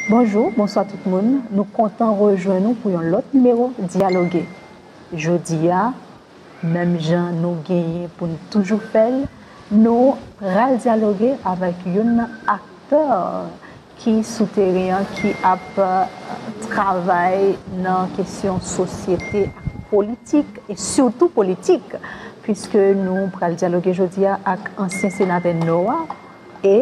Bonjou, bonswa tout moun, nou kontan rejwenn nou pou yon lòt nimewo Dyaloge. Jodi a, menm jan nou genyen pou n toujou fè l, nou pral dyaloge avèk youn nan aktè ki sou teren an, ki ap travay nan kesyon sosyete ak politik, e sitou politik, piske nou pral dyaloge jodi a ak ansyen senatè Nò a e.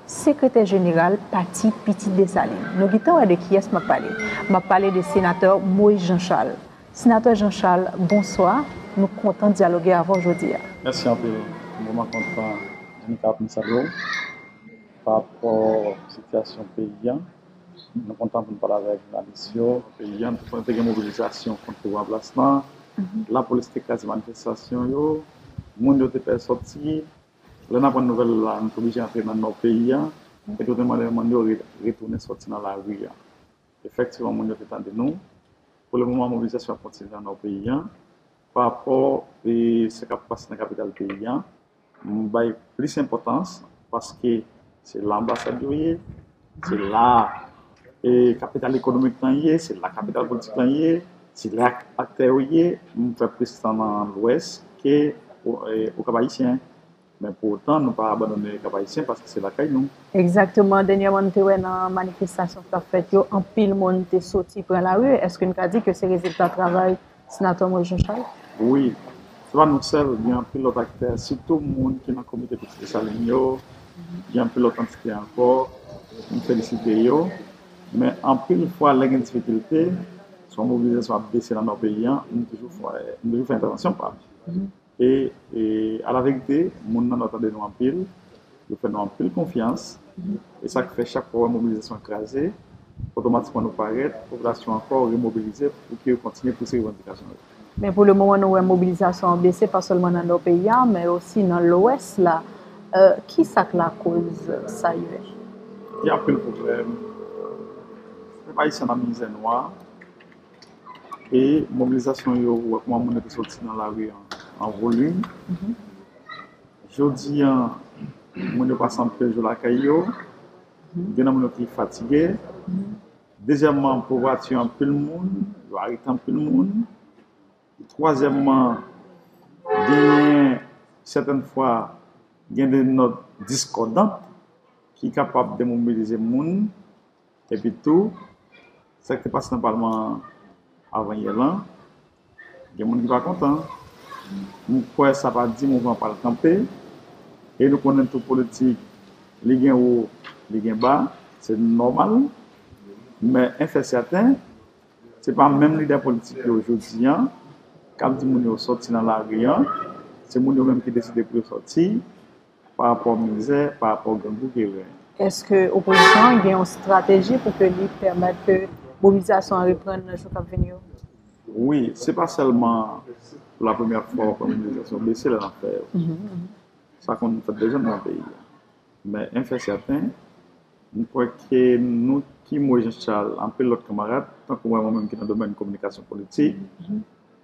Sekretè jeneral pati Pitit Desalin. Nou gintan wè de kiyès m ap pale. M ap pale de Senatè Moyiz Janchal. Senatè Janchal, bonswa. Nou kontan dyaloge avè w jodi a. Mèsi anpil. M vrèman kontan annik a pou m salye w parapò sitiyasyon peyi a. Nou kontan pou n pale avè jounalis yo. Peyi a, nou konnen te gen mobilizasyon kont pouvwa an plas la. Lapolis te kraze manifestasyon yo. Moun yo te pè soti. Lè n aprann nouvèl la, nou te oblije antre nan nò peyi a, e tout moun nan moun yo retounen soti nan lari a. Efektivman, moun yo te tande nou. Pou le moman, mobilizasyon ap kontinye nan nò peyi a. Pa rapò sa k ap pase nan kapital peyi a, m bay plis enpòtans paske se la anbasad yo ye. Se la e kapital ekonomik lan ye, se la kapital politik lan ye, se la aktè yo ye. M fè plis tan nan Lwès ke Okap-Ayisyen. Men pou otan nou pa abandone Okap-Ayisyen paske se lakay nou. Egzakteman. Dènyèman n te wè nan manifestasyon k t ap fèt yo, anpil moun te soti pran lari. Èske n ka di ke se rezilta travay Senatè Moise Jean Charles. Wi, se pa nou sèl, gen anpil lòt aktè, sitou moun ki nan komite Pitit Desalin yo, gen anpil lòt antite ankò, m felisite yo. Men anpil fwa lè gen difikilte, swa mobilizasyon ap bese nan Nò peyi an, m toujou fè entèvansyon pa m. E alaverite, moun nan nò tande nou anpil, yo fè nou anpil konfyans. E sa k fè chak fwa ou wè mobilizasyon an kraze, otomatikman nou parèt, popilasyon an ankò remobilize pou ke yo kontinye pouse revandikasyon yo. Men pou le moman nou wè mobilizasyon an bese pa sèlman nan nò peyi a, men osi nan lwès la. Ki sa k lakoz sa ye? Gen anpil pwoblèm. Pèp ayisyen nan mizè nwa. E mobilizasyon yo wè kouman moun yo te soti nan lari an an volim. Jodi an moun yo pa sanble fè jou lakay yo. Gen nan moun yo ki fatige. Dezyèmman pouvwa tiye anpil moun, yo arete anpil moun. Twazyèmman genyen sèten fwa gen de nòt diskòdan ki kapab demobilize moun. Epi tou, sa ki te pase nan palman an avanyè lan, gen moun ki pa kontan. M kwè sa pa di mouvman an pral kanpe. E nou konnen tou politik, li gen wo, li gen ba, se nòmal. Men 1 fè sèten, se pa menm lidè politik yo jodi an k ap di moun yo sòti nan lari an. Se moun yo menm ki deside pou yo sòti. Pa rapò mizè, pa rapò grangou ke yo genyen. Eske opozisyon an gen yon strateji pou ke li pèmèt ke mobilizasyon an reprann nan jou kap vini yo? Wi, se pa sèlman pou la premyè fwa wap wè mobilizasyon bese lè nap fè yo. Sa konn fèt deja nan yon peyi. Men en fè sèten, m kwè ke nou ki mwen Jean Charles, anpil lòt kanmarad, tankou mwen menm ki nan domèn kominikasyon politik,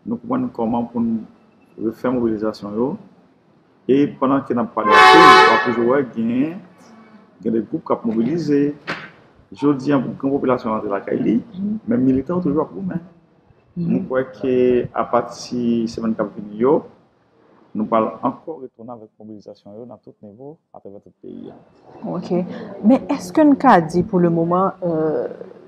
nou konprann kòman poun refè mobilizasyon yo, E pandan ke n ap pale ak yo, w ap toujou wè gen gen de gwoup k ap mobilize. Jodi an, pou gran popilasyon an rantre lakay li, men militan yo toujou ap goumen. Mwen kwè ke apati semèn k ap vini yo, nou pral ankò retounen avèk mobilizasyon yo nan tout nivo atravè tout peyi a. Ok. Men eske n ka di pou le moman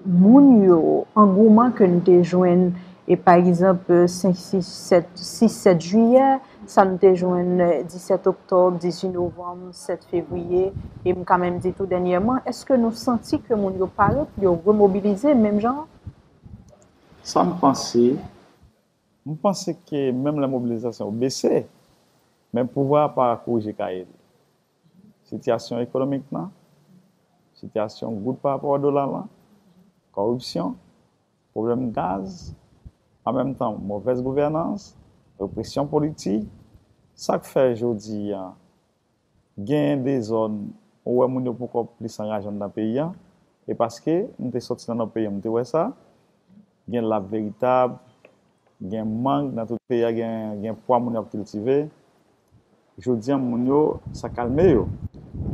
moun yo, angouman ke n te jwenn e pa egzanp 5, 6, 7, 6, 7 jiyè, sa n te jwenn 17 oktòb, 18 novanm, 7 fevriye, e m ka menm di tou dènyèman, eske nou santi ke moun yo pare pou yo remobilize menm jan an? Sa m panse, m panse ke menm lè mobilizasyon yo bese, men pouvwa a pa korije kaye li. sitiyasyon ekonomik nan, sitiyasyon goud pa rapò a dola lan, kòripsyon, pwoblèm gaz, an menm tan movèz gouvènans, represyon politik, sa k fè jodi a genyen dezòd ou wè moun yo poko plis anraje anndan peyi a, e paske m te soti nan nò peyi an m te wè sa, gen lap veritab, gen mang nan tout peyi a gen pwa moun yo ap kiltive. Jodi an moun yo sa kalme yo.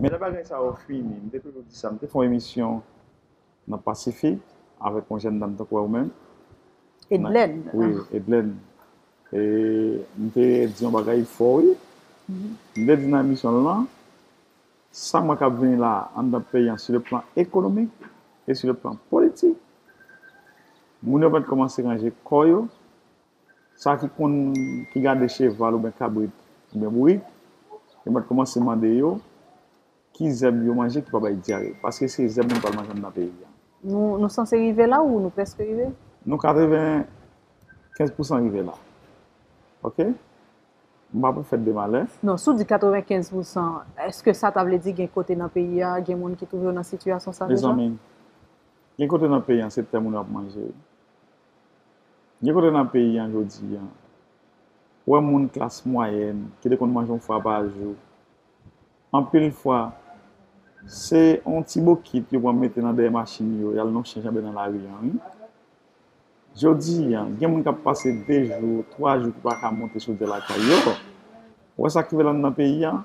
Men lè bagay sa yo fini, m te toujou di sa, m te fè yon emisyon nan Pasifik avèk yon jèn dam tankou ou menm. Edlèn. Wi, Edlèn. E m te di yon bagay fò wi. M te di nan emisyon l lan, sa m wè k ap vini la anndan peyi an sou le plan ekonomik e sou le plan politik, moun yo mèt kòmanse ranje kò yo. Sa ki konn ki gade cheval oubyen kabrit oubyen bourik, yo mèt koumanse mande yo ki zèb yo manje ki pa bay dyare. Paske se zèb moun pral manje anndan peyi a. Nou sanse rive la ou nou prèske rive? Nou 95 pousan rive la. Ok? M pa pou fèt de malè. Non, si w di 95 pousan, èske sa ta vle di gen kote nan peyi a, gen moun ki twouve yo nan sitiyasyon sa deja? Mezanmi, gen kote nan peyi a se tè moun yo ap manje wi. Gen kote nan peyi an jodi an, ou wè moun klas mwayèn ki te konn manje yon fwa pa jou, anpil fwa, se yon ti bokit yo pran mete nan dèyè machin yo, y al nonchen janbe nan lari an wi. Jodi an, gen moun k ap pase de jou, twa jou ki pa ka monte chodyè lakay yo. Ou wè sa k rive lan nan peyi an?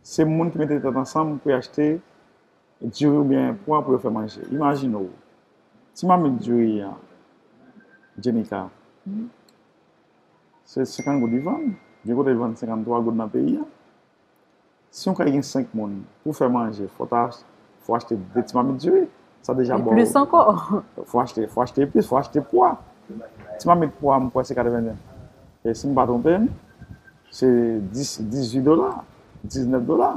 Se moun ki mete tèt ansanm pou y achte Diri ou byen pwa pou yo fè manje. Imajine w, ti mamit diri an, Djenika, se 50 goud li vann, gen kote li vann 53 goud nan peyi an. Si yon kay gen 5 moun, pou fè manje, fò ta, fò achte 2 ti mamit diri. Sa deja ba w. E plis ankò. Fò achte, fò achte epis, fò achte pwa. Ti mamit pwa m kwè se 81, si m pa twonpe m. Se 10, 18 dola, 19 dola.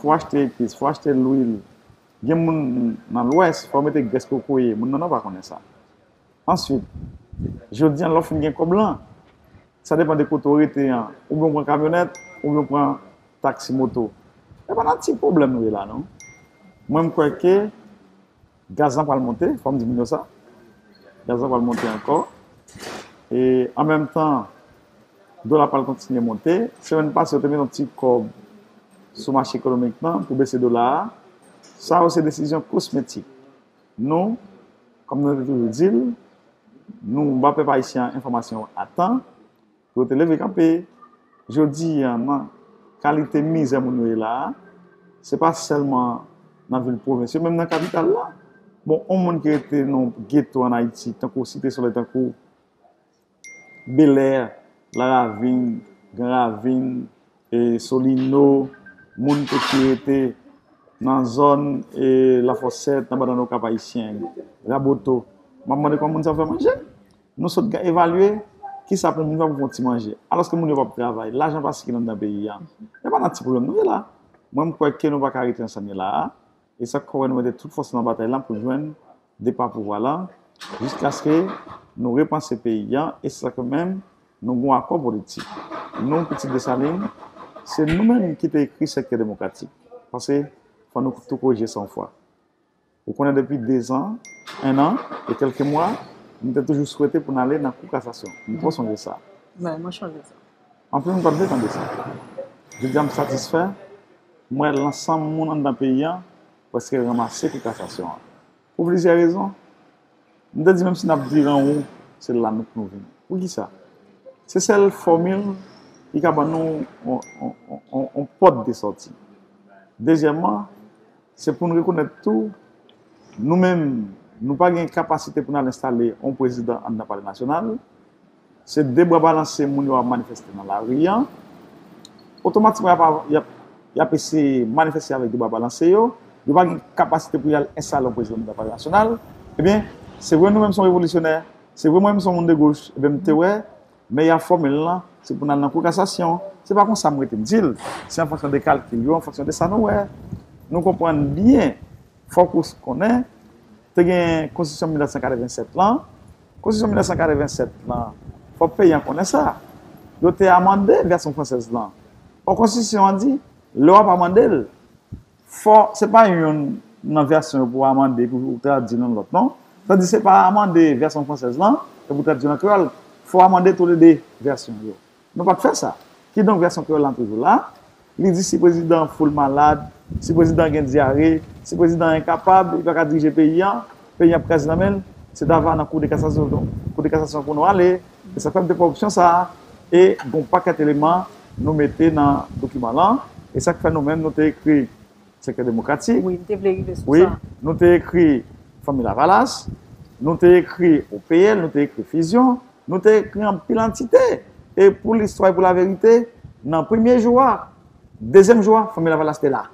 Fò achte epis, fò achte lwil. Gen moun nan lwès, fò mete grès kokoye. Moun nan nò pa konnen sa. Answit, jodi an lè w fin gen kòb lan, sa depan de kote w rete an, oubyen w pran kamyonèt, oubyen w pran taksi moto. E pa nan ti pwoblèm nou ye la non. Mwen m kwè ke. Gaz lan pral monte, fòm di moun yo sa. Gaz lan pral monte ankò. E an menm tan, dola pral kontinye monte. Semèn pase yo te met yon ti kòb sou mache ekonomik nan pou bese dola a. Sa yo se desizyon kosmetik. Nou, kòm nou te toujou di l, nou ba pèp ayisyen enfòmasyon a tan. Yo te leve kanpe. Jodi a nan kalite mizè moun yo ye la a, se pa sèlman nan vil pwovens yo, menm nan kapital la, bon, yon moun ki rete nan yon geto ann Ayiti, tankou Site Solèy, tankou Belè, Laravin, Gran Ravin, Solino, moun tou ki rete nan zòn Lafòsèt, nan Banann Okap Ayisyen, Raboto, m ap mande kòman moun sa yo fè manje? Nou sot gen evalye ki sa pou moun fè pou fon ti manje. Alòske moun yo pap travay, lajan pa sikile anndan peyi a. E pa nan ti pwoblèm nou ye la. Mwen m kwè ke nou pa ka rete nan sa n ye la a. E sa k fè wè nou mete tout fòs nou nan batay lan pou jwenn depa pouvwa lan, jiskaske nou repanse peyi a. E se sa k fè menm nou gon akò politik. Nou, pitit Desalin, se nou menm ki te ekri Sektè Demokratik. Paske fò nou tou kore je san fwa. Ou konnen depi dezan, ennan e kèlke mwa, m te toujou swete pou n ale nan Kou Kasasyon. M twò sonje sa. Mwen mwen sonje sa. Anpil moun pa t vle tande sa. Jodi a m satisfè, m wè lansanm moun anndan peyi an prèske ranmase Kou Kasasyon an. Pou plizyè rezon. M te di menm si n ap diran won, se la nou pou nou vini. Poukisa? Se sèl fòmil ki ka ban nou yon pòt de sòti. Dezyèmman. Se pou n rekonèt tou, nou menm, nou pa gen kapasite pou n al enstale yon prezidan anndan Palè Nasyonal. Se de bra balanse moun yo ap manifeste nan lari an. Otomatikman, y ap eseye manifeste avèk de bra balanse yo. Yo pa gen kapasite pou y al enstale yon prezidan anndan Palè Nasyonal. Ebyen, se vre nou menm se yon revolisyonè, se vre mwen menm se yon moun de goch, ebyen m te wè, Men y ap fòme l lan, se pou n al nan kou kasasyon. Se pa konsa m rete m di l. Se an fonksyon de kalkil yo, an fonksyon de sa nou wè. Nou konprann byen, fòk ou konnen, te gen konstitisyon 1987 lan. Konstitisyon 1987 lan, fòk peyi an konnen sa, yo te amande vèsyon fransèz lan. Ò konstitisyon an di, lè w ap amande l, Fò, se pa youn nan vèsyon yo pou w amande epi pou w tradui l youn lòt non. Sa vle di se pa amande vèsyon fransèz lan epi w tradui l an kreyòl. Fò w amande toule de vèsyon yo. Nou pa t fè sa. Kidonk vèsyon kreyòl lan toujou la. Li di si prezidan Foul malad, si prezidan gen dyare, si prezidan an enkapab, li pa ka dirije peyi an, peyi ap kraze nan men l, se ta va nan koudekasasyon pou nou ale, se sa k fè m te pran opsyon sa a, e gen yon pakèt eleman nou mete nan dokiman lan, e sa k fè nou menm nou te ekri sektè demokratik, nou te ekri Fanmi Lavalas, nou te ekri OPL, nou te ekri Fizyon, nou te ekri anpil antite, e pou listwa e pou laverite, nan premye jou a, dezyèm jou a, Fanmi Lavalas te la.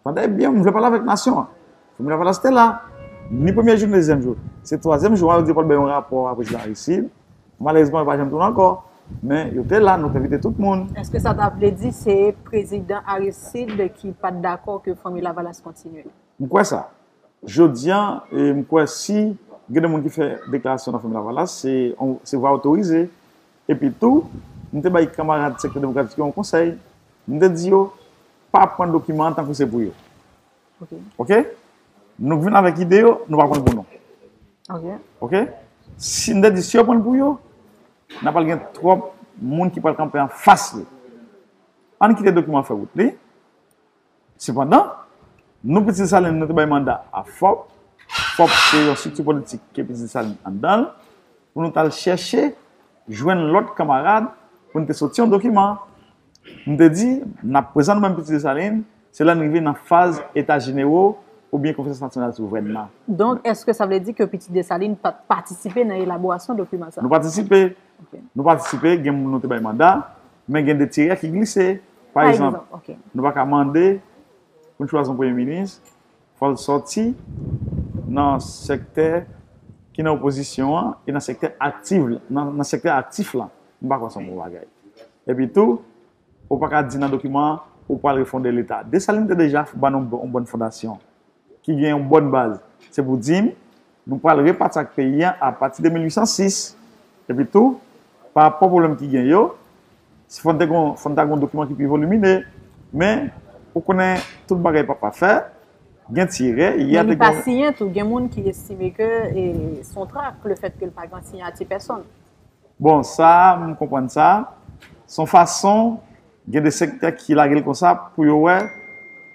Tande byen, m vle pale avèk nasyon an. Fòmil la pa ta site la. Ni premye jou ni dezyèm jou. Se twazyèm jou an yo di yo pral bay yon rapò a prezidan Aristide. Malerezman yo pa janm tounen ankò. Men, yo te la, nou te envite tout moun. Èske sa ta vle di se prezidan Aristide ki pa t dakò ke Fanmi Lavalas kontinye? M kwè sa. Jodi an, m kwè si gen de moun ki fè deklarasyon nan Fanmi Lavalas, se vwa otorize. Epi tou, m te bay kanmarad Sektè Demokratik yo yon konsèy, m te di yo, pa pran dokiman an tankou se pou yo. Ok? Nou vin avèk ide yo, nou pa pran l pou nou. Ok? Si m te di, si yo pran l pou yo, n a pral gen twòp moun ki pral kanpe anfas li. Ann kite dokiman an fè wout li, Sepandan, non Piti Desalin nan te bay manda a FOP, fòp se yon strikti politik ke Piti Desalin anndan l, pou nou t al chèche jwenn lòt kanmarad pou n te soti yon dokiman. Nou te di, n ap prezan nou menm Piti Desalin, se lè n rive nan faz Eta Jenewo oubyen Konferans Nasyonal Souvren nan. Donk, èske sa vle di ke Piti Desalin pa t patisipe nan elaborasyon dokiman sa a? Nou patisipe. Nou patisipe, gen moun nou te bay manda, Men gen de tirè ki glise. Pa egzanp, nou pa ka mande pou n chwazi yon premye minis, fò l sòti nan sektè ki nan opozisyon an e nan sektè aktiv la, nan sektè aktif la. M pa kwè se yon bon bagay. Epi tou, ou pa ka di nan dokiman an ou pral refonde Leta. Desalin te deja ban nou yon bòn fondasyon. ki gen yon bòn baz. Se pou di n, nou pral repati ak peyi a apati de 1806. Epi tou, pa rapò pwoblèm ki gen yo, si fò n te gen, fò n ta gen yon dokiman ki pi volimine. Men, ou konnen, tout bagay pa pafè, gen ti erè. Men li pa siyen tou. Gen moun ki estime ke se yon trak, lefètke li pa gen siyati pèsonn. Bon, sa a, m konprann sa. Se yon fason Gen de sektè ki lage l konsa pou yo wè,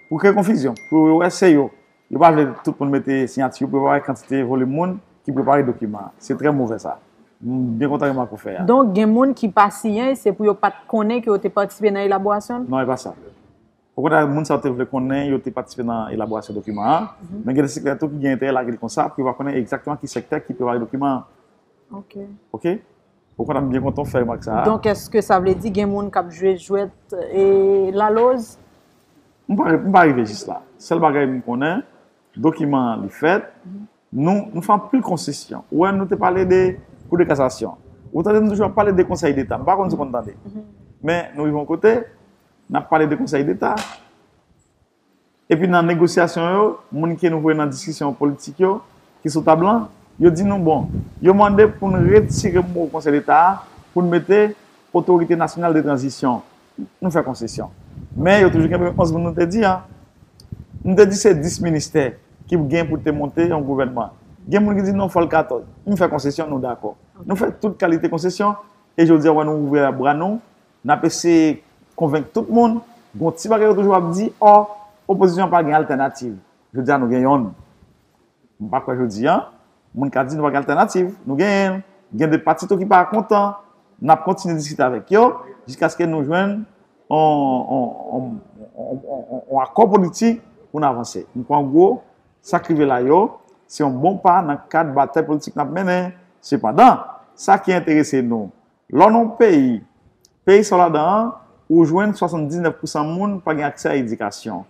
pou kreye konfizyon, pou yo wè se yo. Yo pa vle tout moun mete siyati yo pou yo pa wè kantite volim moun ki prepare dokiman an. Se trè move sa. M byen kontan remak ou fè a. Donk gen moun ki pa siyen se pou yo pa t konnen ke yo te patisipe nan elaborasyon l? Non e pa sa. Okontrè moun sa yo te vle konnen yo te patisipe nan elaborasyon dokiman an, men gen de sektè tou ki gen enterè lage l konsa pou yo pa konnen egzakteman ki sektè ki prepare dokiman an. Ok. Ok. Ou konn ap byen kontan w fè remak sa a. Donk èske sa vle di gen moun k ap jwe jwèt e laloz? M pa rive jis la. Sèl bagay m konnen, dokiman an li fèt, nou nou fè anpil konsesyon. Ou wè nou te pale de kou de kasasyon. Ou tande nou toujou ap pale de konsèy deta. M pa konn si w konn tande. Men nou rive yon kote, n ap pale de konsèy deta. Epi nan negosyasyon yo, moun ke nou voye nan diskisyon politik yo, ki sou tab lan, yo di nou, bon, yo mande pou n retire mo Konsèy Deta a, pou n mete Otorite Nasyonal de Tranzisyon. Nou fè konsesyon. Men yo toujou kenbe 11 moun nou te di an. M te di se 10 ministè ki gen pou te monte yon gouvènman. Gen moun ki di non fò l 14. M fè konsesyon, nou dakò. Nou fè tout kalite konsesyon e jodi a wè nou ouvri bra nou N ap eseye konvenk tout moun, gon ti bagay yo toujou ap di, ò, opozisyon an pa gen altènativ. Jodi a nou gen yonn. M pa kwè jodi a, moun ka di nou pa gen altènativ. Nou genyen l. Gen de pati tou ki pa kontan. N ap kontinye diskite avèk yo jiskaske nou jwenn yon akò politik pou n avanse. M kwè an gwo, sa k rive la yo, se yon bon pa nan kad batay politik n ap mennen. Sepandan, sa ki enterese nou, Lò nan yon peyi, peyi sa w ladan an, ou jwenn 79 pousan moun pa gen aksè a edikasyon.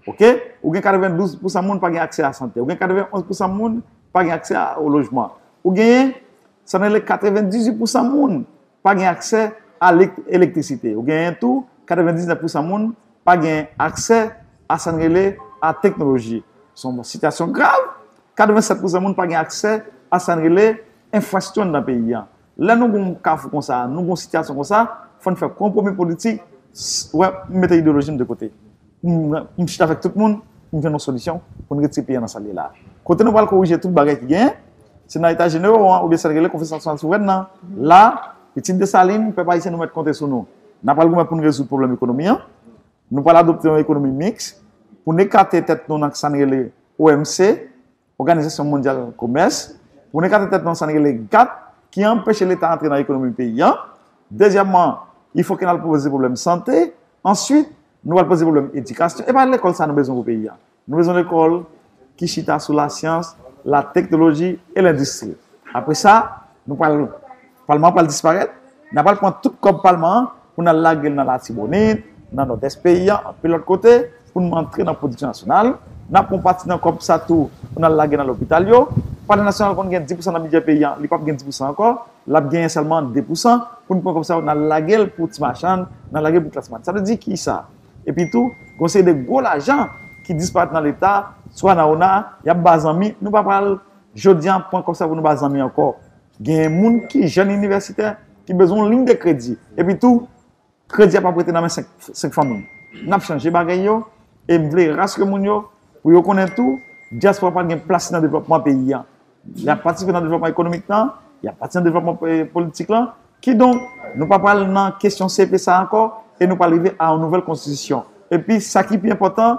Ok? Ou gen 92 pousan moun pa gen aksè a sante. Ou gen 91 pousan moun pa gen aksè a o lojman. Ou genyen, sa nou rele 98 pousan moun pa gen aksè a lek, elektrisite. Ou genyen tou, 99 pousan moun pa gen aksè a sa nou rele a teknoloji. Se yon sitiyasyon grav. 87 pousan moun pa gen aksè a sa nou rele enfrasyon nan peyi an. Lè nou gen yon kafou konsa, nou gen yon sitiyasyon konsa, fò n fè konpwomi politik, wè, m mete ideyoloji m de kote. Pou m chita avèk tout moun, pou m jwenn yon solisyon, pou n retire peyi an nan sa l ye la a. Kote nou pral korije tout bagay ki genyen, se nan Eta Jenewo an, oubyen sa l rele Konferans Nasyonal Souvren nan. La, pitit Desalin, pèp ayisyen nou mèt konte sou nou. N apral goumen pou n rezoud pwoblèm ekonomi an. Nou pral adopte yon ekonomi miks, pou n ekate tèt nou nan sa n rele OMC. Òganizasyon Mondyal Komès, pou nou ekate tèt nou nan sa n rele gap ki anpeche Leta antre nan ekonomi peyi an. Dezyèmman, li fòk ke n al poze pwoblèm sante. Answit, nou pral poze pwoblèm edikasyon. E pa lekòl sa nou bezwen pou peyi an. Nou bezwen lekòl ki chita sou lasyans, lateknoloji e lendistri. Apre sa, nou pral. Palman an pral disparèt, n a pral pran tout kòb palman an pou n al lage l nan Latibonit, nan Nòdès peyi an, anpil lòt kote, pou n rantre nan pwodiksyon nasyonal. N ap pran yon pati nan kòb sa tou pou n al lage nan lopital yo. Palman nasyonal konn gen dipousan nan bidjè peyi an, li p ap gen dipousan ankò, l ap genyen sèlman depousan pou n pran kòb sa yo n al lage l pou ti machann, n al lage l pou klas mwayèn. Sa vle di ki sa? Epi tou, gen yon seri de gwo lajan ki disparèt nan Leta, swa nan ona, y ap ba zanmi, nou pa pral jodi an pran kòb sa pou nou ba zanmi ankò. Genyen moun ki jèn inivèsitè ki bezwen yon liy de kredi. Epi tou, kredi a pap rete nan men 5 fanmi. N ap chanje bagay yo e m vle raskre moun yo pou yo konnen tou, dyaspora pa gen plas nan devlòpman peyi an. Y ap patisipe nan devlòpman ekonomik lan, y ap patisipe nan devlòpman politik lan. Kidonk, nou pa pral nan kesyon CEPE sa ankò e nou pral rive a yon nouvèl konstitisyon. Epi, sa ki pi enpòtan,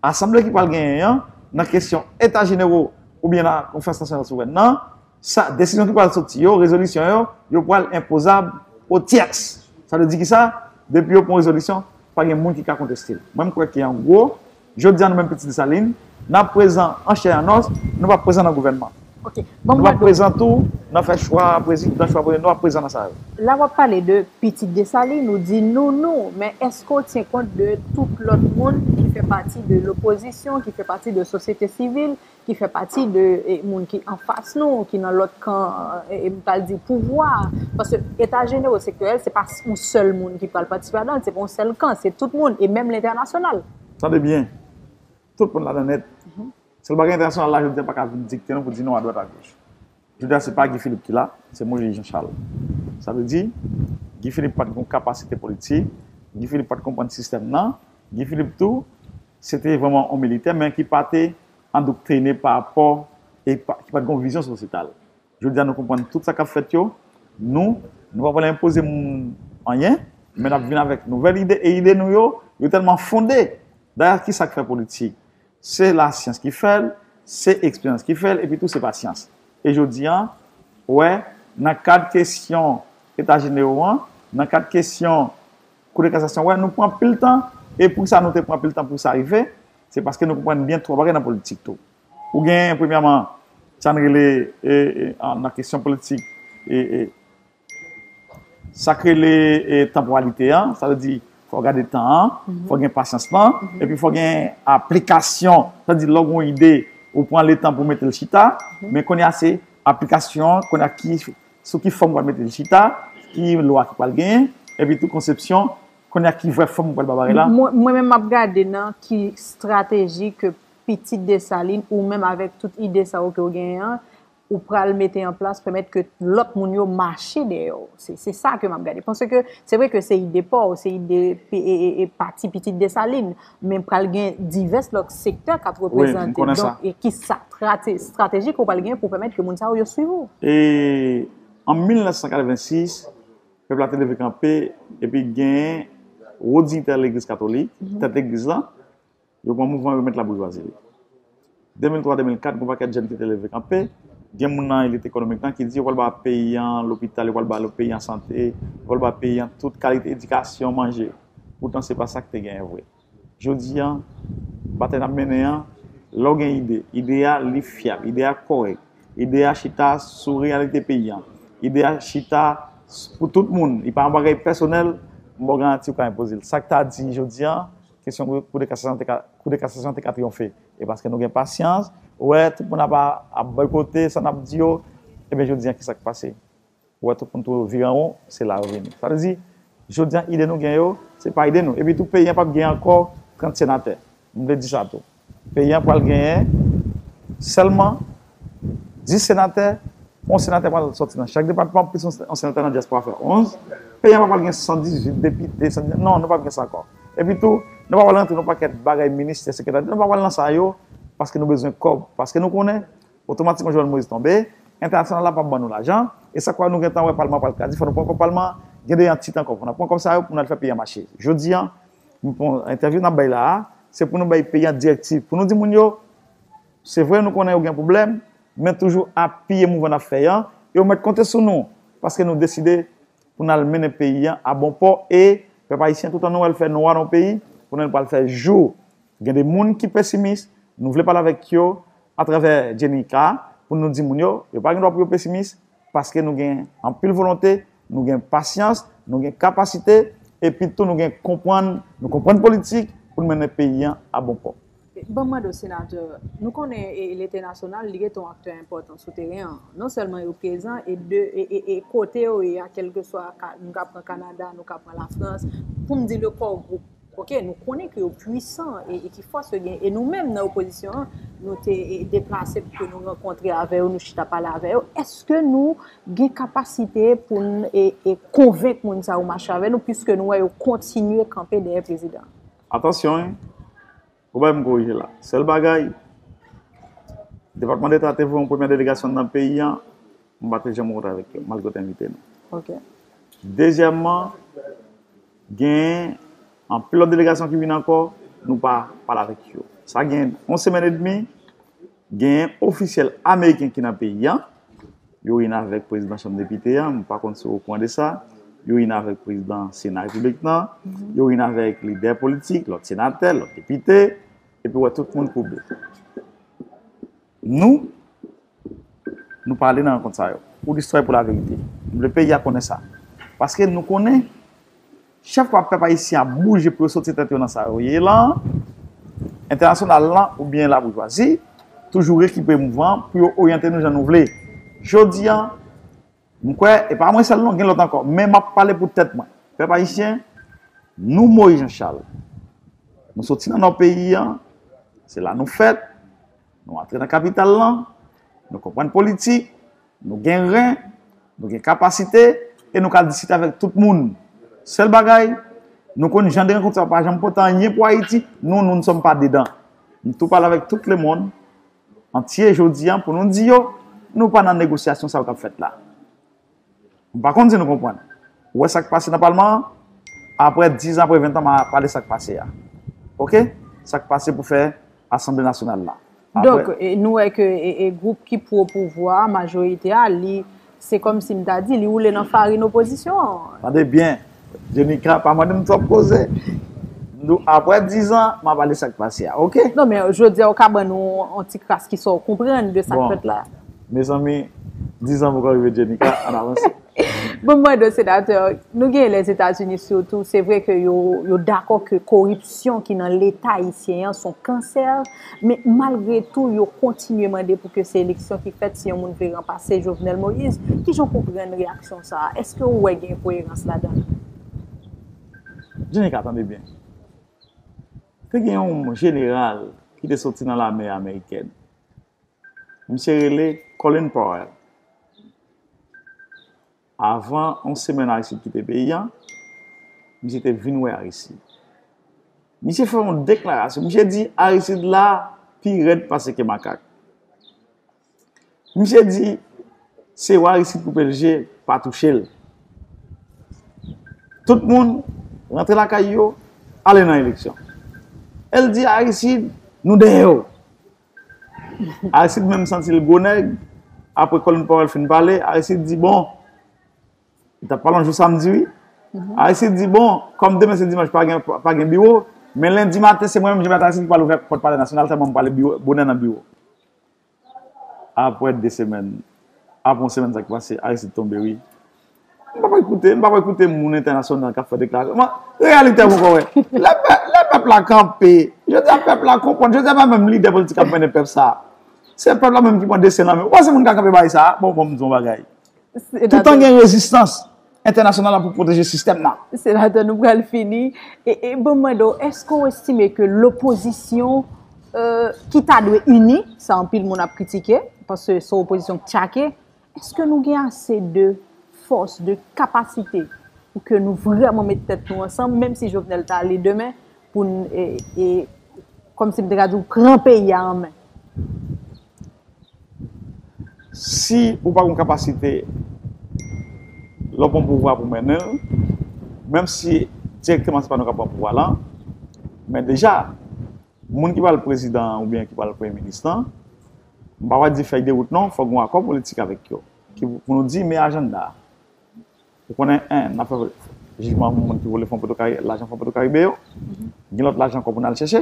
asanble ki pral genyen an, nan kesyon Eta Jenewo oubyen nan Konferans Nasyonal Souvrèn nan, Sa, desizyon ki pral soti yo, rezolisyon yo, yo pral enpozab o tyèks. Sa vle di ki sa? Depi yo pran yon rezolisyon, pa gen moun ki ka konteste l. Mwen m kwè ke an gwo, jodi a nou menm pitit Desalin, n ap prezan an chè an os, nou p ap prezan nan gouvènman. Nou p ap prezan tou nan fè chwa prezidan, chwa premye, nou p ap prezan nan sa yo. La w ap pale de pitit Desalin, ou di nou, nou, men èske w tyen kont de tout lòt moun ki fè pati de lopozisyon, ki fè pati de sosyete sivil, ki fè pati de moun ki anfas nou, ki nan lòt kan, m pral di pouvwa, paske eta jenero sektorèl se pa yon sèl moun ki pral patisipe ladan l, se pa yon sèl kan, se tout moun e menm lentènasyonal. Tande byen, tout moun ladan nèt, sèl bagay entènasyonal la jodi a pa ka vin dikte nou pou di nou adwat agoch. Jodi a se pa Guy Philippe ki la, se Moise Jean Charles. Sa vle di, Guy Philippe pat gon kapasite politik, Guy Philippe pat konprann sistèm nan, Guy Philippe tou, se te vrèman yon militè men ki pa te andoktrine pa rapò e ki pat gon vizyon sosyetal. Jodi a nou konprann tout sa kap fèt yo, nou, nou pa vle enpoze moun anyen, men nap vin avèk nouvèl ide e ide nou yo, yo tèlman fonde! Dayè ki sa k fè politik? Se lasyans ki fè l, se eksperyans ki fè l, epitou se pasyans. E jodi an, ou wè, nan kad kesyon Eta Jenewo an, nan kad kesyon Kou de Kasasyon, ou wè, nou pran pil tan, e pou ki sa nou te pran pil tan pou sa rive? Se paske nou konprann byen twa bagay nan politik tou. Ou gen, premyèman, sa n rele, nan kesyon politik, Sa k rele tanporalite an, sa vle di fò gade tan an, fò gen pasyans lan, epi fò gen aplikasyon. Sa vle di lò gen yon ide, ou pran letan pou mete l chita, men kounye a se aplikasyon an, kounye a ki, sou ki fòm ou pral mete l chita, ki lwa ki pral genyen, epi tou konsepsyon, kounye a ki vrè fòm ou pral ba bagay la. Mwen menm m ap gade nan ki estrateji ke pitit Desalin, ou menm avèk tout ide sa yo ke ou genyen an, ou pral mete an plas pèmèt ke lòt moun yo mache dèyè w. Se sa ke m ap gade. Panse ke, se vre ke se ide pa w, se ide pati pitit Desalin, men pral gen divès lòt sektè k ap reprezante. Donk, e ki sa strateji ke w pral gen pou pèmèt ke moun sa yo, yo swiv ou? E, an 1986, pèp la te leve kanpe, epi genyen wo dinyitè legliz katolik, tèt legliz lan, Yo pran mouvman remèt laboujwazi li. 2003-2004, gon pakèt jèn ki te leve kanpe, gen moun nan elit ekonomik lan ki di yo pral ba peyi an lopital, yo pral ba peyi an sante, yo pral ba peyi an tout kalite edikasyon, manje. Poutan se pa sa ki te genyen vre. Jodi an, batay n ap mennen an, lè w gen ide, ide a li fyab, ide a kòrèk, ide a chita sou reyalite peyi an, ide a chita pou tout moun, li pa yon bagay pèsonèl, m ba w garanti ou ka enpoze l. Sa k ta di jodi an, Kesyon kou de kasasyon te ka kou de kasasyon te ka triyonfe e paske nou gen pasyans ou wè tout moun ap ap boykote sa nap di yo ebyen jodi an kisak pase ou wè tout moun tou vire anwon se la yo vini sa vle di jodi an ide nou gen yo se pa ide nou epi tou peyi an pap gen ankò 30 senatè m vle di sa tou. Peyi an pral genyen sèlman 10 senatè, yon senatè pral sòti nan chak depatman, plis yon senatè nan dyaspora fè 11. Peyi an pa pral gen 118 depite, non, nou pap gen sa ankò. Epi tou, nou pa pral rantre nan yon pakèt bagay ministè, sekretè, nou pa pral nan sa yo, paske nou bezwen kòb, paske nou konnen, otomatikman Jovenel Moïse tonbe, entènasyonal la pap ban nou lajan, e sa kwa nou gentan wè palman an pral krase, fò nou pran kòb palman an, gen 2 an ti tan ankò pou n ap pran kòb sa yo pou n al fè peyi an mache. Jodi an. Bon, entèvyou n ap bay la a, se pou nou bay peyi an direktiv, pou nou di moun yo, se vre nou konnen yo gen pwoblèm, men toujou apiye mouvman n ap fè an, e yo mèt konte sou nou, paske nou deside pou n al mennen peyi an a bon pò, e, pèp ayisyen, toutan nou wè l fè nwa nan yon peyi, konnen l pral fè jou. Gen de moun ki pesimis, nou vle pale avèk yo atravè Djenika, pou nou di moun yo, yo pa gen dwa pou yo pesimis, paske nou gen anpil volonte, nou gen pasyans, nou gen kapasite, epi tou nou gen konprann, nou konprann politik pou nou mennen peyi an a bon pò. Ban m mande w Senatè, nou konnen Lite Nasyonal li rete yon aktè enpòtan sou teren an, non sèlman yo prezan e de e kote yo ye a kèlkeswa nou ka pran Kanada, nou ka pran Lafrans, pou m di le Core Group. Ok nou konnen ke yo pwisan e ki fòs yo gen e nou menm nan opozisyon an nou te deplase pou ke nou rankontre avè yo nou chita pale avè yo eske nou gen kapasite pou n e konvenk moun sa yo mache avè nou pwiske nou wè yo kontinye kanpe dèyè prezidan. Atansyon hein Ou bay m korije la. Sèl bagay, Depatman Deta te voye yon premyè delegasyon nan peyi an, mwen pa te janm rankontre avèk yo, malgre yo te envite nou. Ok. Dezyèmman, gen anpil lòt delegasyon ki vin ankò, nou pa pale avèk yo. Sa gen yon semèn edmi. Genyen ofisyèl ameriken ki nan peyi an, yo wi n avèk prezidan chanm depite an, m pa konn si w okouran de sa, yo wi n avèk prezidan sena repiblik nan, yo wi n avèk lidè politik, lòt senatè, lòt depite, epi w wè tout moun koube. Nou, nou pa ale nan rankont sa yo, pou listwa e pou laverite. M vle peyi a konnen sa. Paske nou konnen. Chèf wap pèp ayisyen ap bouje pou yo soti tèt yo nan sa yo ye lan, entènasyonal lan oubyen laboujwazi, toujou rekipe mouvman pou yo oryante nou jan nou vle. Jodi an, m kwè, e pa mwen sèl non, gen lòt ankò, men map pale pou tèt mwen, pèp ayisyen, nou Moïse Jean Charles, nou soti nan nò peyi an, se la nou fèt, nou antre nan kapital lan, nou konprann politik, Nou gen ren, nou gen kapasite, e nou ka diskite avèk tout moun. Sèl bagay, nou konn jan de rankont sa yo pa janm pote anyen pou Ayiti, nou, nou n sòm pa dedan. M tou pale avèk tout lemonn antye jodi an pou nou di yo, nou pa nan negosyasyon sa yo k ap fèt la. M pa konn si nou konprann. Ou wè sa k pase nan palman an? Aprè dizan, aprè ventan m a pale sa k pase a. Ok? Sa k pase pou fè asanble nasyonal la. Donk, nou wè ke gwoup ki pwo pouvwa a, majorite a, li, se kòm si m ta di, li woule nan farin opozisyon an. Tande byen! Jenika pa mandem twòp koze Nou aprè 10 an ma pale sak pase a ok. Non men jodia ou ka ban nou yon ti kras ki sa ou konprann de sak fèt la. Mezanmi 10 an poko rive Jenika ann avanse. Banm mande w senatè, nou gen Lèzetazini sitou se vre ke yo dakò ke koripsyon ki nan leta ayisyen an son kansè. Men malgre tou yo kontinye mande pou ke se eleksyon ki fèt si yon moun vle ranpase Jovenel Moïse. Kijan w konprann reyaksyon sa a? Eske ou wè gen koyerans ladan l? Jenika, tande byen. Te gen yon jeneral ki te soti nan lame amerikèn. Misye rele Colin Powell. Avan yon semèn Aristide kite peyi an, misye te vin wè Aristide. Misye fè yon deklarasyon. Misye di Aristide la pi rèd pase ke makak. Misye di se ou Aristide koupe l je, pa touche l. Tout moun rantre lakay yo, ale nan eleksyon. El di Aristide, nou dèyè w. Aristide menm santi l gwo nèg, apre Colin Powell fin pale, Aristide di bon, li tap pale yon jou samdi wi, Aristide di bon, kòm demen se dimanch pa gen biwo, men lendi maten se mwen menm Jean-Bertrand Aristide ki pral ouvè pòt Palè Nasyonal tèlman m pral ale bonè nan biwo. Apre 2 semèn, apre yon semèn sa ki pase, Aristide tonbe wi. Nou pa koute, nou pa koute moun entènasyonal kap fè deklarasyon. Reyalite pou kò wè. Lè pèp la kanpe, jodi a pèp la konprann, jodi a pa menm lidè politik kap mennen pèp sa. Se pèp la menm ki pran desten nan men. Ou panse moun ka kanpe bay sa? Bon, banm di w yon bagay. Toutan gen rezistans entènasyonal la pou pwoteje sistèm nan. Senatè nou pral fini. E banm mande w, eske w estime ke lopozisyon ki ta dwe ini, sa anpil moun ap kritike, paske son opozisyon k tchake, Eske nou gen ase de fòs, de kapasite pou ke nou vreman met tèt nou ansanm, menm si Jovenel ta ale demen, pou n, e, e, kòm si m te ka di w, pran peyi a an men? Si ou pa gen kapasite lè w pran pouvwa pou mennen l, menm si dirèkteman se pa nou k ap pran pouvwa lan, men deja, moun ki pral prezidan an oubyen ki pral premye minis lan, M pa wè di fèy de wout non, fòk gon akò politik avèk yo, ki pou nou di men ajanda a. Ou konnen 1 nap fè jijman pou moun ki vole fon potoka lajan fon potokaribe yo, gen lòt lajan ankò pou nal chèche.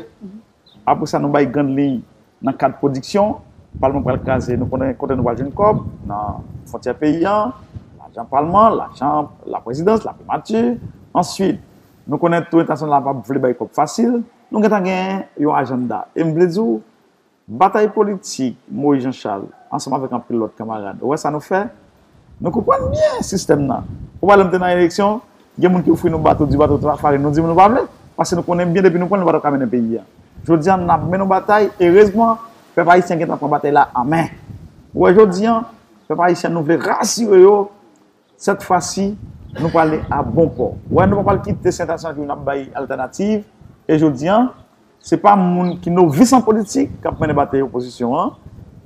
Apre sa nou bay grand liy nan kad pwodiksyon, palman pral kraze nou konnen kote nou pral jwenn kòb, nan fontyè peyi an, lajan palman, lajan laprezidans, laprimati, answit nou konnen tou entènasyonal la pap vle bay kòb fasil, nou gentan gen yon ajanda e m vle di w Batay politik, Moïse Jean Charles, ansanm avèk anpil lòt kanmarad. Ou wè sa nou fè? Nou konprann byen sistèm nan. Ou pa lè nou te nan eleksyon, gen moun ki ofri nou bato, di bato tra farin, nou di nou pa vle, paske nou konnen byen depi nou pran l nou pa ta ka mennen peyi a. Jodi a n ap mennen yon batay, erezman, pèp ayisyen gen tan pran batay la an men. Ou wè jodi a, pèp ayisyen nou vle rasire yo, Sèt fwa si, nou prale a bon pò. Wè nou pa pral kite Sèt a San Jou nap bay altènativ e jodi an, se pa moun ki novis an politik kap mennen batey opozisyon an,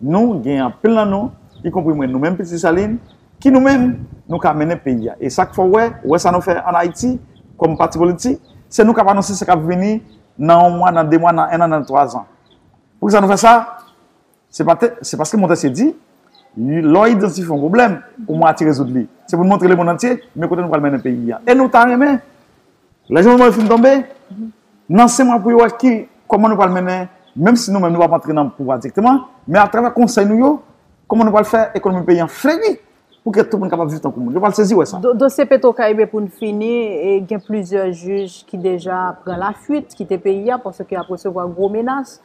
nou gen anpil nan nou, ikonpri mwen nou menm Pitit Desalin, ki nou menm nou ka mennen peyi a. E sak fè w wè, wè sa nou fè an Ayiti kòm pati politik, se nou kap anonse sa kap vini nan yon mwa, nan de mwa, nan ennan, nan twazan. Poukisa nou fè sa? Se pa te, se paske Montesquieu di, lè w idantifye yon pwoblèm, ou mwatye rezoud li. Se pou n montre lemonn antye, men kote nou pral mennen peyi a. E nou ta renmen, lè Jovenel Moïse fin tonbe, nan sen mwa pou yo wè ki, kòman nou pral mennen, menm si nou menm nou pa p antre nan pouvwa direkteman, men atravè konsèy nou yo, kòman nou pral fè ekonomi peyi an fleri. Pou kè tout moun kapab viv tankou moun. Yo pral sezi wè sa. Dosye Petro Caribe pou n fini, gen plizyè jij ki deja pran lafuit, kite peyi a paske y ap resevwa gwo menas.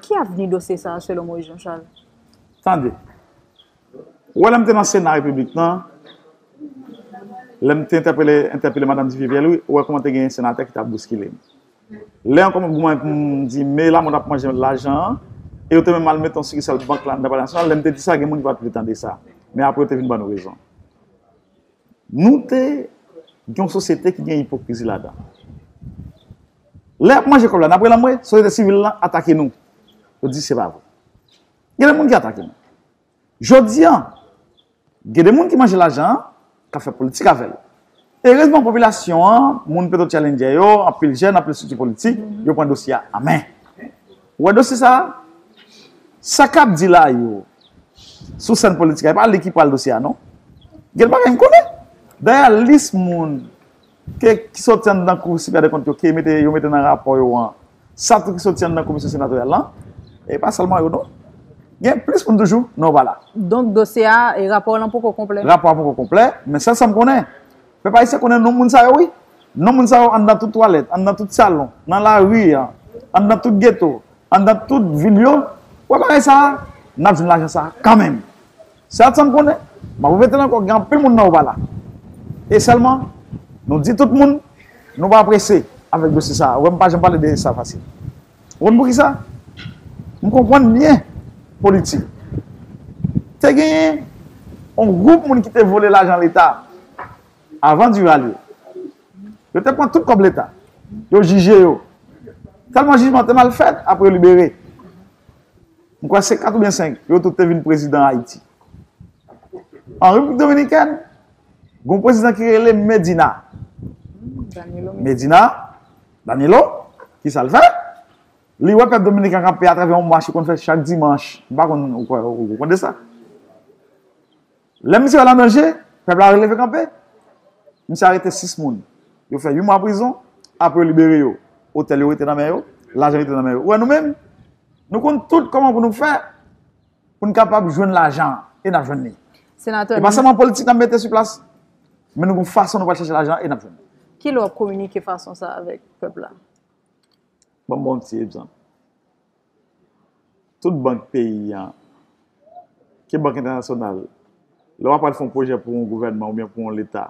Ki avni dosye sa a selon Moïse Jean Charles? Tande, ou wè lè m te nan Sena Repiblik nan, lè m te entèpele Madam Duviviel wi, ou wè kouman te gen senatè ki t ap bouskile m. Lè an kòman pou mwen pou m di me lamòt ap manje lajan an e yo te menm al mete yon sikisal bank la anndan palè nasyonal lè m te di sa gen moun ki pa t vle tande sa men apre yo te vin ban nou rezon nou te gen yon sosyete ki gen ipokrizi ladan lè y ap manje kòb la n ap rele anmwe sosyete sivil lan atake nou yo di se pa vre gen lè moun ki atake nou Jodi an, gen de moun ki manje lajan an, k ap fè politik avè l. Erezman popilasyon an, moun Petwotchalendjè yo, anpil jèn, anpil estrikti politik, yo pran dosye a an men. Ou wè dosye sa a? Sa k ap di la yo, sou sèn politik la, e pa li ki pral dosye a non. Gen bagay m konnen. Dayè lis moun. Ke ki soti anndan Kou Siperyè Dèkont yo, ke yo mete nan rapò yo an, sa tou ki soti anndan Komisyon Senatoryal lan, e pa sèlman yo non. Gen plis moun toujou, non vwala. Donk dosye a, rapò w lan poko konplè? Rapò a poko konplè, men sèl sa m konnen, pèp ayisyen konnen non moun sa yo wi. Non moun sa yo anndan tout twalèt, anndan tout salon, nan lari, anndan tout geto, anndan tout vil yo, wè bagay sa a, n ap jwenn lajan sa a kanmenm. Se at sa m konnen. M ap repete l ankò, gen anpil moun nan ou pa la. E sèlman, nou di tout moun, nou pa prese avèk dosye sa a. Ou wè m pa janm pale de sa fasil. Ou konn poukisa? M konprann byen politik. Te genyen yon gwoup moun ki te vole lajan Leta avan Duvalier. Yo te pran tout kòb Leta. Yo jije yo. Tèlman jijman te mal fèt, apre yo libere. M kwè se 4 oubyen 5, yo tout te vin prezidan Ayiti. An Repiblik Dominikèn, gen yon prezidan ki rele Medina. Medina, Danilo, ki sa l fè? Li wè pèp Dominiken an k ap peye atravè yon mach li konn fè chak dimanch, m pa konn, ou konn de sa? Lè misye al an danje, pèp la leve kanpe. Misye arete 6 moun. Yo fè 8 mwa prizon, apre yo libere yo. Otèl yo rete nan men yo, lajan rete nan men yo. Ou wè nou menm, nou konn tout kòman pou nou fè, pou nou kapab jwenn lajan an, e n ap jwenn li. E pa sèlman politik n ap mete sou plas, men nou gon fason nou pral chèche lajan an, e n ap jwenn li. Ki lè w ap kominike fason sa a avèk pèp la? Ban m ba w yon ti egzanp. Tout bank peyi an, ke bank entènasyonal, lè wap pral fè yon pwojè pou yon gouvènman oubyen pou yon leta,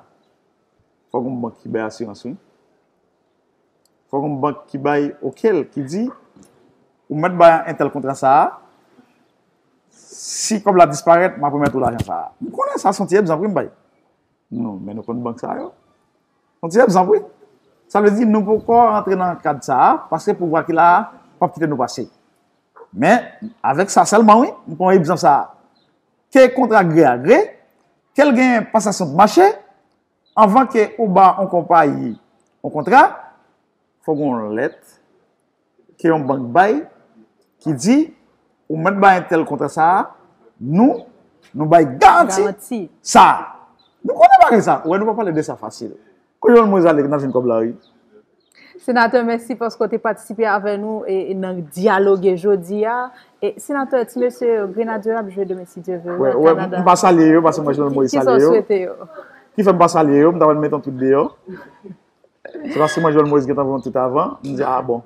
fòk yon bank ki bay asirans wi. Fòk yon bank ki bay okel, ki di, ou mèt bay entèl kontra sa a, si kòb la disparèt, map remèt ou lajan sa a. M konnen sa son ti egzanp wi m bay. Nou, men nou konn bank sa yo. Yon ti egzanp wi. Sa vle di nou poko rantre nan kad sa a paske pouvwa ki la a p ap kite nou pase. Men, avèk sa sèlman wi, m pran egzanp sa a, ke kontra gre a gre, ke l gen pasasyon dmache, anvan ke ou ba yon konpayi yon kontra, fòk gen yon lèt ke yon bank bay ki di ou mèt bay entèl kontra sa a, nou, nou bay garanti sa a. Nou konnen bagay sa a. Ou wè nou pa pale de sa fasil. Kote yon mwen zale ki nan jwenn kòb la wi? Senatè mèsi paske w te patisipe avè nou nan dyaloge jodi a. Senatè, ti mesye yo, Grenadye yo ap jwe demen si Dye vle wi an Kanada. M pa salye yo paske m wè Jovenel Moïse salye yo. Kisa w swete yo? Ki fè m pa salye yo, m ta wè nou met yon twit deyò. Se paske mwen jwenn Moise gentan voye yon tweet avan, m di ah bon.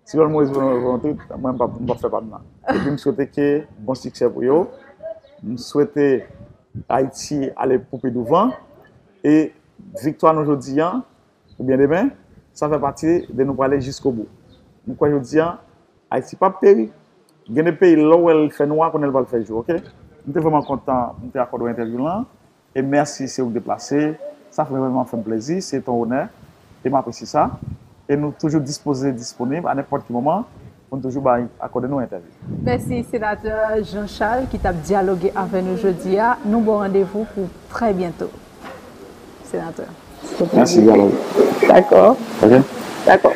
Si jwenn Moise voye yon tweet, mwen m pap fè pa m nan. Epi m swete ke bon siksè pou yo. M swete Ayiti ale pou pi douvan. E viktwa nou jodi an, oubyen demen, sa fè pati de nou prale jiskobou. M kwè jodi an, Ayiti pap peri. Gen de peyi lè w wè l fè nwa, konnen l pral fè jou ok. M te vrèman kontan m te akòde w entèvyou lan. E mèsi se ou ki te plase. Sa vrèman fè m plezi. Se ton onè e m apresye sa. E nou toujou dispoze disponib a nenpòt ki moman pou n toujou bay akòde nou entèvyou. Mèsi Senatè Jean Charles ki t ap dyaloge avè nou jodi a. Nou ba w randevou pou trè byento, Senatè. Mèsi Valerie. Dakò. Ok. Dakò.